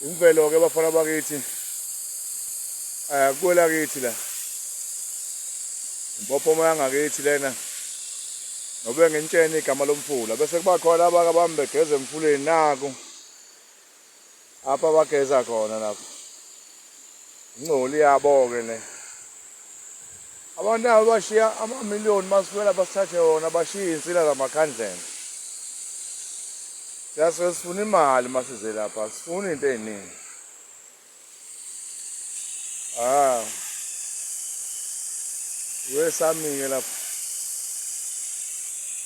Imvelo ke bafana bakithi akukwela kithi la impophoma yangakithi lena nobe ngentsheni igama lomfula bese kuba khona abaka bami begeza emfuleni naku apha bageza khona lapho Ngcoli yabo-ke le. Abantu abo bashiya amamiliyoni masifela basithathe wona bashiye iy'nsila zamakhandlela. Siyasuke sifuna imali masize lapha, sifuna into ey'ningi. Ah. Wesamike lapha.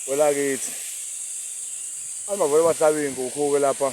Kwelakithi. Abavele bahlaba iy'nkukhu-ke lapha.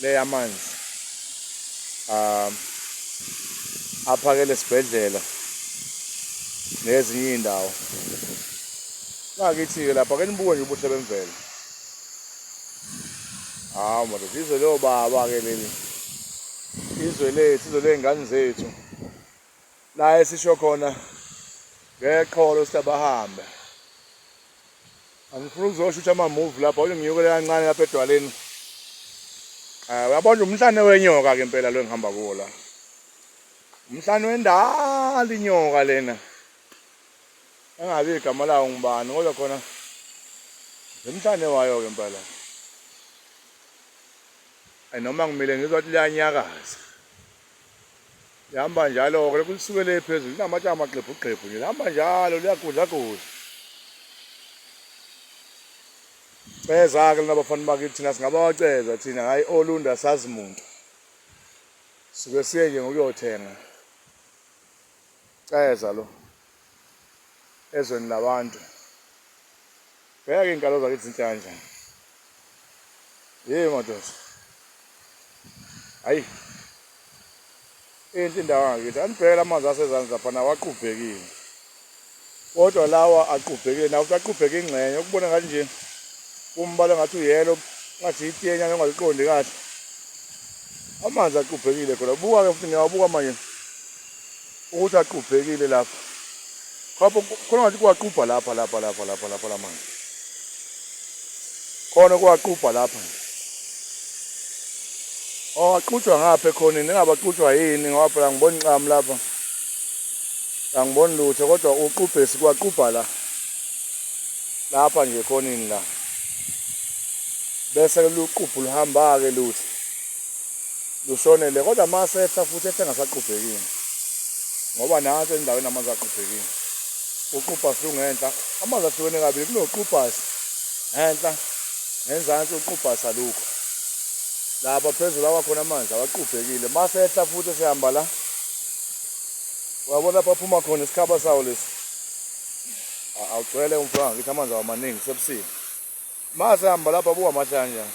le yamanzi um aphakele esibhedlela nezinye iy'ndawo ngakithi-ke lapha ke nibuke nje ubuhle bemvelo hawu madoda izwe leyobaba-ke leli izwe lethu izwe ley'ngane zethu la esisho khona ngeqholo siyabahambe angifuni ukuzoshutha amamuvi lapha kodwa ngiyokele kancane lapha edwaleni um uyabona umhlane wenyoka-ke impela lo engihamba kuwo la umhlane wendala inyoka lena engazi igama lawo ngubani kodwa khona emhlane wayo-ke impela noma ngimile ngizwa ukuthi liyanyakaza lihamba njalo-ke lokhu lisuke le phezulu linamatshe amagxebhugxebhu nje lihamba njalo liyagudlagudla ceza-ke lona bafana bakithi thina singabawaceza thina hhayi olunda sazi muntu suke siye nje ngokuyothenga ceza lo ezweni labantu Bheka ke inkalo zakithi inhlanja. Hey madoda. Hayi. Inhle indawo ngakithi. Anibhekela amanzi asezansi lapha nawaqubhekile. Kodwa lawa aqubhekile nawo aqubheke ingxenye ukubona ngathi nje umbala ngathi uyelo ngathi itenya ngingaliqondi kahle. Amanzi aqubhekile khona. Buka ke futhi ngiyawabuka manje. ukuthi aqubhekile lapha khapha khona ngathi kuwaqubha lapha lapha lapha lapha lapha lamanzi khona kuwaqubha lapha nje owaqutshwa oh, ngapha ekhoneni engabaqutshwa yini ngoba phela ngibona inqamu lapha angiboni lutho kodwa uqubhesi kwaqubha la lapha nje ekhoneni la bese luqubhu luhamba-ke luthi lushonele kodwa masehla futhi ehle ngasaqubhekini ngoba nansi endaweni amanzi aqubhekini uqubhasi lungenhla amanzi ahlukene kabili kunoqubhasi ngenhla ngenzansi uqubhasi alukho lapha phezulu awakhona amanzi awaqubhekile masehla futhi esehamba la uyabona lapha aphuma khona isikhaba sawo lesi awugcwele umfana ngithi amanzi awamaningi sebusile masehamba lapha buka amahle kanjani